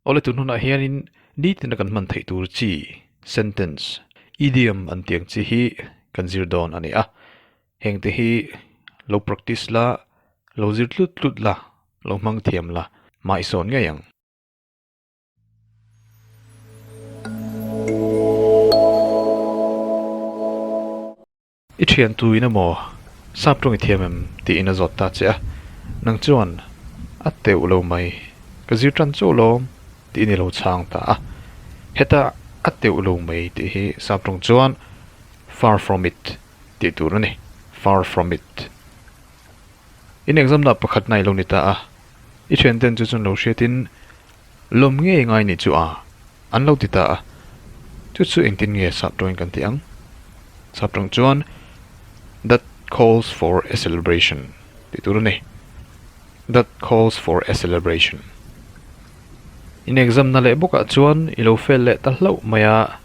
Awle tun hunah hianin nitina kan hman theih tur chi, sentence, idiom an tiang chi hi kan zir dawn a ni a. Heng te hi lo practice la, lo zir tlut tlut la, lo hmang thiam la mah i sawn ngei ang. I thian tuin emaw sap tawng i thiam em tiin a zawt ta che a, nang chuan a teuh lo mai ka zir tan chauh lawm tiin i lo chhang ta a, heta a teuh lo mai tih hi sap tawng chuan far from it tih tur a ni, far from it. In exam dah pakhat nai lo ni ta a, i thianten chu chun lo hriatin Lawm ngei ngai nih chu a, an lo ti ta a. Chu chu engtin nge sap tawngin kan tih ang? Sap tawng chuan That calls for a celebration tih tur a ni. That calls for a celebration. In exam na leh bawkah chuan i lo fail leh ta hlauh mai a,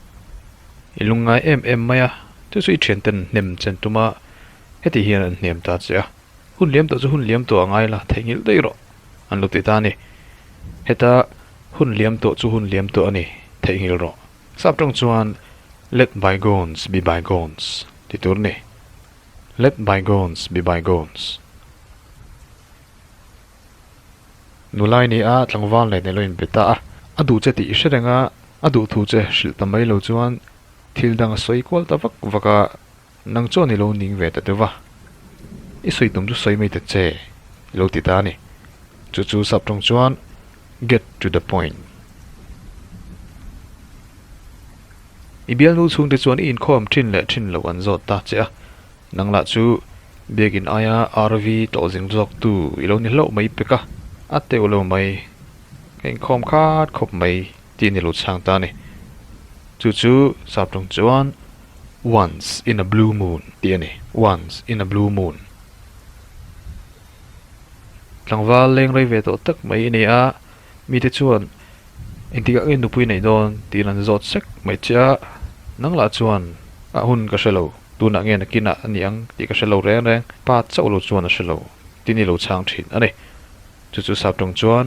i lungngai em em mai a, chu chu i thianten hnem chen tuma, hetih hian an hnem ta che a. hun liam tawh chu hun liam tawh a ngai la theih nghilh daih rawh an lo ti ta a ni. Heta hun liam tawh chu hun liam tawh a ni theih nghilh rawh sap tawng chuan let bygones be bygones ti tur ni. Let bygones be bygones. Nulai ni a tlangval nen ilo inbe ta a, a duh che tih hre reng a, a duh thu che hrilh ta mai lo chuan thil dang a sawi kual ta vak vak a. Nang chuan i lo ning ve ta deuh va, i sawi tum chu sawi mai ta che i lo ti ta a ni. Chu chu sap tawng chuan get to the point. I bialnu chhung te chuan i inkhawm thin leh thin lo an zawt ta che a, nang lah chu biakin aia RV tawh zing zawk tu i lo ni hlauh mai pek a, a teuh lo mai, ka inkhawm khat khawp mai. Tih ni lo chhang ta ni. Chu chu sap tawng chuan once in a blue moon tih a ni. Once in a blue moon. Tlangval leng rei ve tawh tak mai a ni a, mite chuan engtikah i nupui neih dawn tiin an zawt sek mai che a, nang lah chuan a hun ka hre lo, tunah nge nakinah a ni ang tih ka hre lo reng reng, pa chauh lo chuan a hre lo tih ni lo chhang thin a ni. Chu chu sap tawng chuan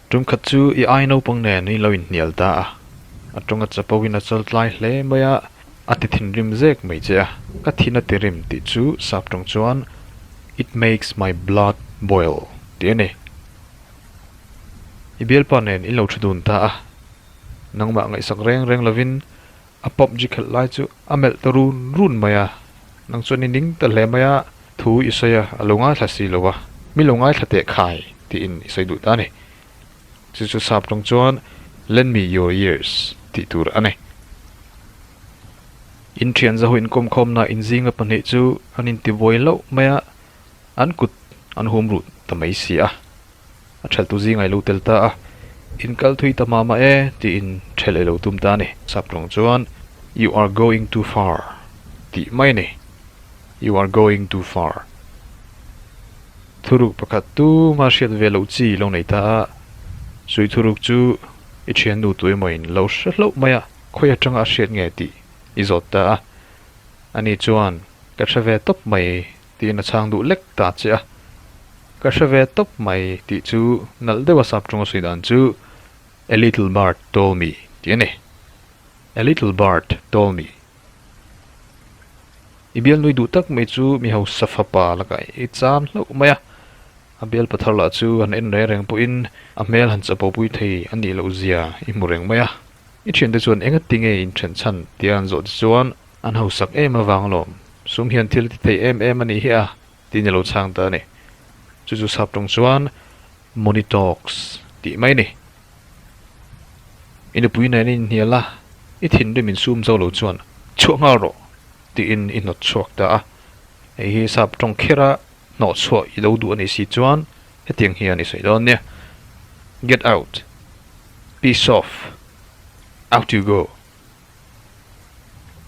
Tum khat chu i ai naupang nen in lo inhnial ta a, a ṭawngah chapo in a chal tlai hle mai a, a ti thinrim zek mai che a, ka thin a ti rem tih chu sap ṭawng chuan It makes my blood boil tih a ni. I bialpa nen in lo ṭhu dun ta a, nangmah ngaihsak reng reng lovin A pawp ji khelh lai chu a melh ta run run mai a, nang chuan i ning ta hle mai a, thu i sawi a, a lo ngaithla si lo a, mi lo ngaithla teh khai tiin i sawi duh ta a ni. Chu chu sap tawng chuan lend me your ears tih tur a ni. In thianzaho inkawmkhawmna inzinga pahnih chu an inti buai loh mai a, an kut an hum ruh ta mai si a. a ṭhelhtu zing a ilo tel ta a, inkal thui ta mah mah e tiin ṭhelh a ilo tum ta a ni. Sap tawng chuan You are going too far tih mai a ni, You are going too far. Thuruk pakhat tuma hriat ve loh chi ilo nei ta a, Suih thuruk chu i ṭhiannu tu emawiin lo hre hlauh mai a, khawi aṭanga a hriat nge tih i zawt ta a, ani chuan ka hre ve tawp mai Tiin a chhang duh lek ta che a, Ka hre ve tawp mai tih chu nalh deuha sap ṭawng a sawi dan chu A little bird told me tih a ni. A little bird told me. I bialnui duh tak mai chu mi hausa fapa laka i cham hlauh mai a, a bial pathar lah chu han en reng reng pawhin a hmel han chapawh pui thei a nih loh zia i hmu reng mai a. I ṭhente chuan enga tinge in ṭhen chhan tia an zawh te chuan A nau sak em avang lawm, sum hian thil ti thei em em a nih hi a, tiin i lo chhang ta a ni. Chu chu sap tawng chuan Moni Talk tih mai ni. I nupui nen a inhnial a, i thinrim in sum zo lo chuan chhuah nghal rawh tiin i hnawt chhuak ta a. Hei hi sap tawng kher a hnawh chhuah i lo duh a nih si chuan hetiang hian i sawi dawn nia, Get out! Piss off! Out you go!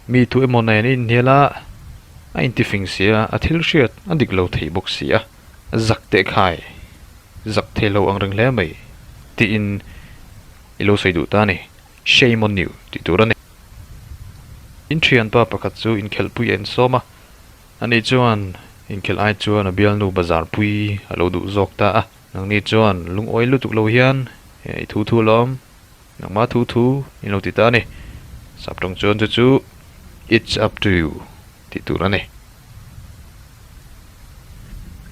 mi thu emaw nen a inhnial a a intifing si a a thil hriat a dik lo thei bawk si a zak teh khai zak thei lo ang reng hle mai tiin i lo sawi duh ta a ni shame on you tih tur a ni in thianpa pakhat chu inkhelhpui a en sawm a a nih chuan inkhelh ai chuan a bialnu bazar pui a lo duh zawk ta a nangni chuan lungawi lutuk lo hian i thu thu a la awm. Nangma thu thu in lo ti ta a ni. Sap tawng chuan chu chu It's up to you tih tur a ni.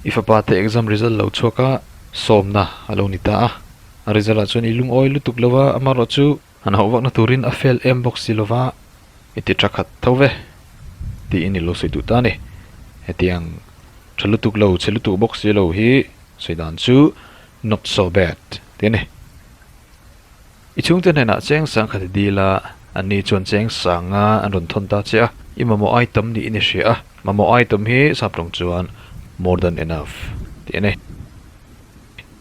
I fapa te exam result lo chhuak a sawmna a lo ni ta a. A result ah chuan i lungawi lutuk lo va, amarawh chu han hauh vakna turin a fail em bawk si lo va, i ti tha khat tho ve tiin i lo sawi duh ta a ni. Hetiang tha lutuk lo, chhe lutuk bawk si lo hi sawi dan chu Not so bad, tih a ni. I chhungte hnenah cheng sang khat i dil a, an ni chuan cheng sanga an rawn thawn ta che a, i mamawh item niin i hria a, mamawh item hi sap tawng chuan more than enough, tih a ni.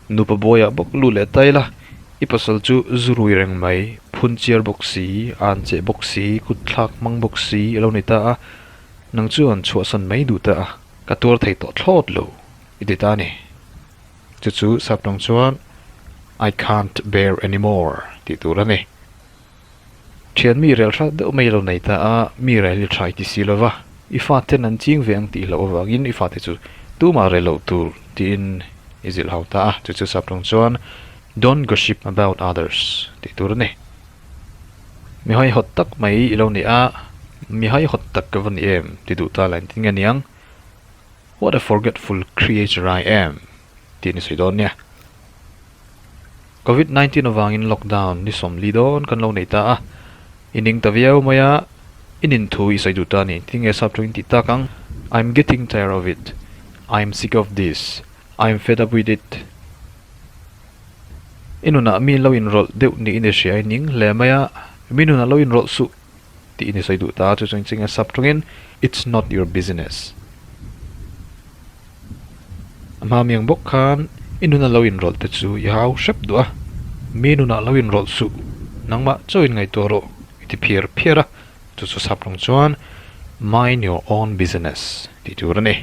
Nupa buaia bawk lut leh ta ila, i pasal chu zu rui reng mai, phun chiar bawk si, an che bawk si, kut thlak hmang bawk si i lo ni ta a, nang chuan chhuahsan mai duh ta a, ka tuar thei tawh thlawt lo i ti ta a ni. Chu chu Sapnawng chuan I can't bear anymore tih tur a ni. Thian mi rel hrak deuh mai a lo nei ta a, mi rel i tha i ti si lo va, i fate'n an ching ve ang tih loh avangin i fate chu tumah rel loh tur tiin i zilh hau ta a. Chu chu Sapnawng chuan Don't gossip about others tih tur a ni. Mi haihawt tak mai i lo ni a, mi haihawt tak ka va ni em ti duh ta la engtin nge niang. What a forgetful creature I am tih ni sawi dawn nia. Covid nineteen avangin lockdown ni sawm li dawn kan lo nei ta a, i ning ta viau mai a, i nin thu i sawi duh ta ni. Tinge sap tawh in tih tak ang, I'm getting tired of it, I'm sick of this, I'm fed up with it. I nunah mi lo inrawlh deuh ni in i hria i ning hle mai a, mi nunah lo inrawlh suh tih i ni sawi duh ta, chu chuan ching a sap tawngin, It's not your business. A hma miang bawk khan i nuna lo inrawlh te chu i hau hrep duh a, mi nunah lo inrawlh suh, nangmah chauhin ngaihtuah rawh, i ti phiar phiar a, chu chu sap tawng chuan, Mind your own business tih tur a ni.